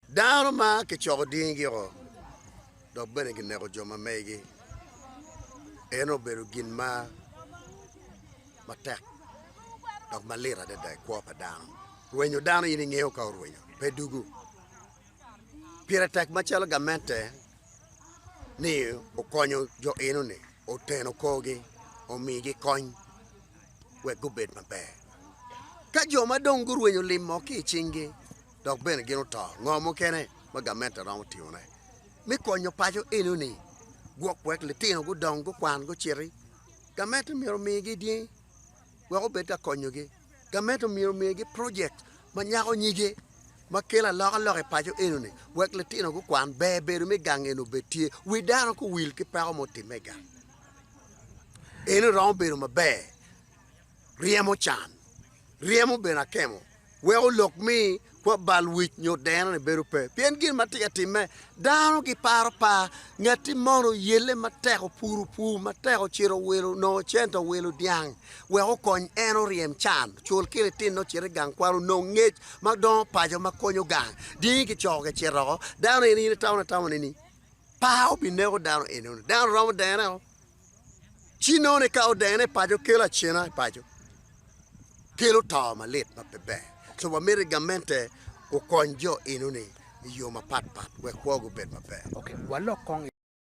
Dano ma kicoko dingigiko dok bene gineko jo ma megi, en obedo gin ma matek dok malit adada i kwo pa dano. Rwenyo dano in ingeyo ka orwenyo? Pe dugu. Pire tek macalo gamente ni okonyo jo eno-ni, oteno korgi, omigi kony. wek gubed maber. Ka jo ma dong gurwenyo lim mo ki i cinggi dok bene gin oto, ngo mukene ma gamente romo timone me konyo paco? Enoni, Gwok wek litino gudong gukwan guciti. Gamente myero omigi dyangi wek obed ka konyogi. Gamente myero omigi projekt ma nyako nyige ma kelo alokaloka i paco enoni wek litino gukwan. Ber bedo me gang eni obed tye. Wi dano kowil ki peko ma otimme i gang. Eno romo bedo maber ryemo can, ryemo bene akemo weko lok mi kwa bal wic nyo deno-ni bedo pe. Pien gin ma tye ka timme, dano giparo par, ngatti mono yelle matek opuru pur matek ocito owilo onongo cente owilo dyang wek okony en oryem can, ocul ki litine ocit i gang kwan onong ngec ma dongo paco ma konyo gang, dini kicoko kicito oko, dano en in itamo atama nini? pa obineko dano eni onongo dano romo dene o ci nongo ni ka odene i paco kelo acena i paco kelo to malit ma pe ber so wamiti gamente okony jo enoni i yo mapat pat wek kwogi obed maber. Ok walok kong i.